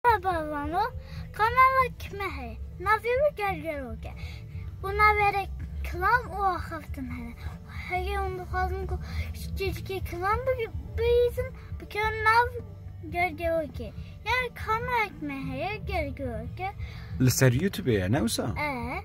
Bavano kanala kime heye. Navê wî Gergerok e û navê re kilam û axaftin hene. Heye hûn dixwazin ku cicikê kilam bihîzin bikevin nav Gergerok e. Yani kanala kime heye Gergerok e. Li ser Youtubê ye ne wisa? E.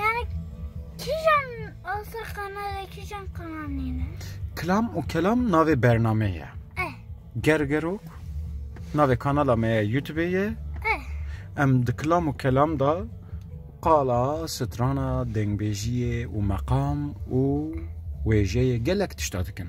Yani kîjan asa qanade kîjan qananîne? Kilam û kelam navê bernameyê ye. Eh. Gergerok navê kanala me ye YouTube'ê ye. Eh. Em di kilam û kelam da qala, strana, dengbêjiyê û meqam û wêjeyê gelek tişta dikin.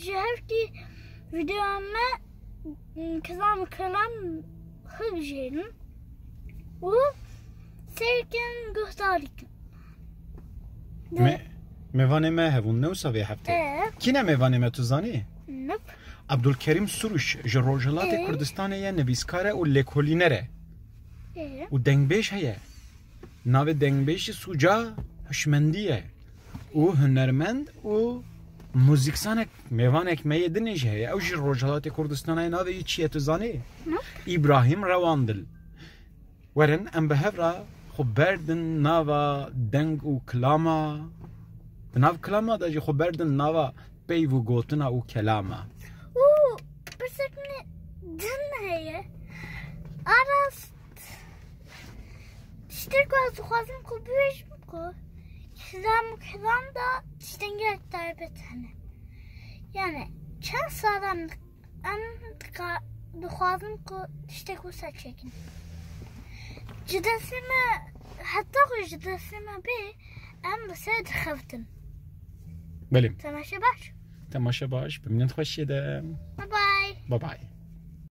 Ji hevkî videoya me kizan û kilan xwe bijêrin û sêrkin guhdarî kin. Me Mêvanê me hebûn ne wisa vê heftê. Kî ne mêvanê me tu zanî? Nop. Abdulkerîm Sûrûş ji Rojhilatê Kurdistanê ye nivîskar e û lêkolîner e. Û dengbêj heye. Navê dengbêj jî Sûca Hişmendî ye. û hunermend û muzîksanek mêvanek me yê dinê jî heye. Ew jî Rojhilatê Kurdistanê ye navê wî çi ye tu zanî? Îbrahîm Rewandil. Werin em bi hev re xwe berdin nava deng û kilama di nav kilama de jî xwe berdin nava peyv û gotina û kelama. Û pirsek min din heye. Aras Tiştek ku ez dixwazim ku bibêjim ku hizam û hizam da tiştengeh taybet hene. Yani çend salan em dixwazim ku tiştek wisa çêkin. Ji destê me heta ku ji destê me bê em li ser dixevitin. Belê. Temaşe baş. Temaşe baş. Bi minnet xweşiyê de. Bye bye. Bye bye.